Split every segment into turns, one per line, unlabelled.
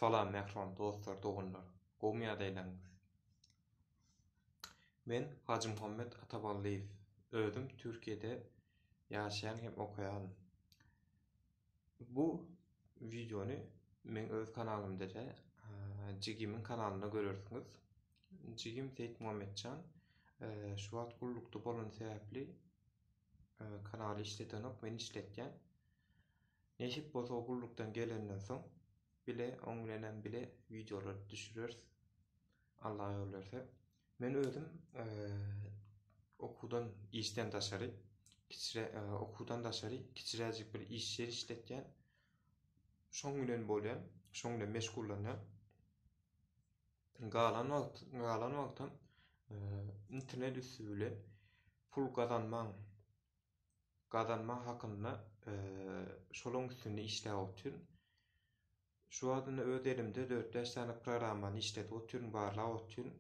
Salam mähriban dostlar doganlar gowmy ýadaýlaryňyz. Men Hajymuhammet Ataballyýew özüm Türkiýede ýaşaýan hem okaýan. Bu wideony meň öz kanalymda de jigimiň kanalynda görersiňiz. Jigim Seýitmuhammetjan şu wagt gullukda bolany sebäpli kanaly işledenok men işletýän. Nesip bolsa gullukdan gelenden soň bile oň bilenem bile wideolar düşüreris Alla ýol berse. Men özüm okuwdan işden daşary kiçire okuwdan daşary kiçiräjik bir iş ýer işletýän. Şoň bilen bolýan, şoň bilen meşgullanýan. Galan wagt, galan wagtam internet üsti bilen pul gazanmaň gazanma hakynda şolaň üstünde işläp otyryn. Şu wagtynda öz elimde 4-5 sany programmany işledip otyryn, barlap otyryn.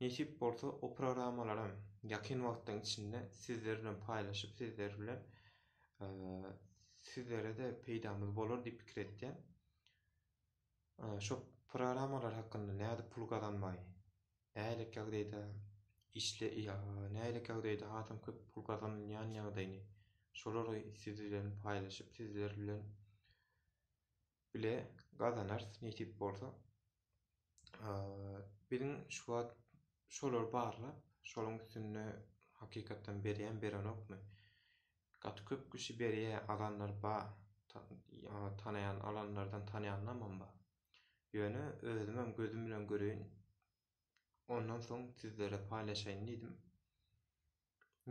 Nesip bolsa, o programmalaram ýakyn wagtdan içinde sizler bilen paýlaşyp, sizler bilen sizlere-de peýdamyz bolar diýip pikir etýän. Şo programmalar hakynda nädip pul gazanmaý? nähili kägdaýda işle ýa nähili kägdaýda hasam köp pul gazanylýan ýagdaýyny şolary siz bilen paýlaşyp sizler bilen bile gazanars nesip bolsa biziň şu wagt şolary barlap şoluň üstünde hakykatdan berýän berenokmy gaty köp kişi berýä alanlar ba tanaýan alanlardan tanaýanlamam ba. Ýöne özümem gözüm bilen göreýin, ondan soň sizlere paýlaşaýyn diýdim.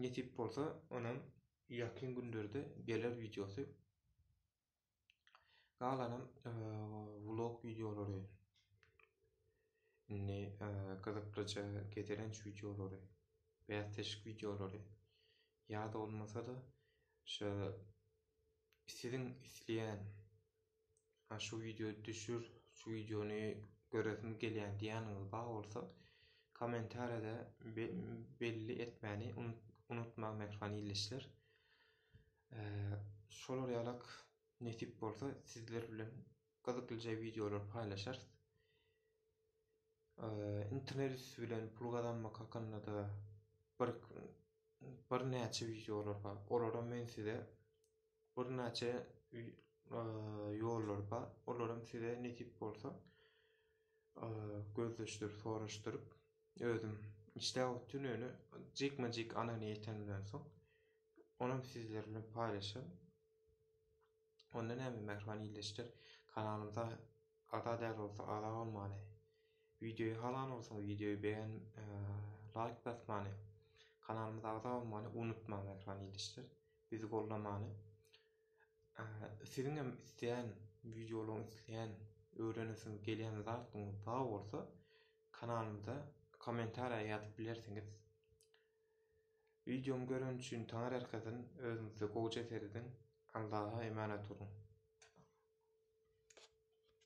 Nesip bolsa, onam ýakyn günlerde geler wideosy. Galanam vlog wideolary. Indi gyzyklyja gezelenç wideolary, bäsleşik wideolary ýa-da bolmasa-da şu siziň isleýän Ha şu video düşür, şu videony göresim gelýär diýýäniňiz bar bolsa, kommentariýada belli etmäni unutmaň mähriban ildeşler. Şolar ýalak nesip bolsa sizler bilen gyzyklyja videolar paýlaşarys. Internet üsti bilen pul gazanmak hakynda da bir birnäçe videolar bar. Olara men size Birnäçe ýollar bar. Olaram size nesip bolsa gözleşdirip, soraşdyryp özüm işläp otyryn öýne jikme-jik anany ýetenimden soň onam sizler bilen paýlaşan. Onda näme mähriban ildeşler kanalymyza ada däl bolsa ada bolmany, wideoýy halan bolsaňyz wideoýy beýen laýk basmany, kanalymyza agza bolmany unutmaň mähriban ildeşler. bizi goldamaly. Siziň hem isleýän wideolaryň isleýän öwrenesiň gelýän zadyň bar bolsa kanalymyza kommentariýa ýazyp bilersiňiz. Wideomy gören üçin taňar erkazyn özüňizde gowja serediň. Allaha emanat boluň.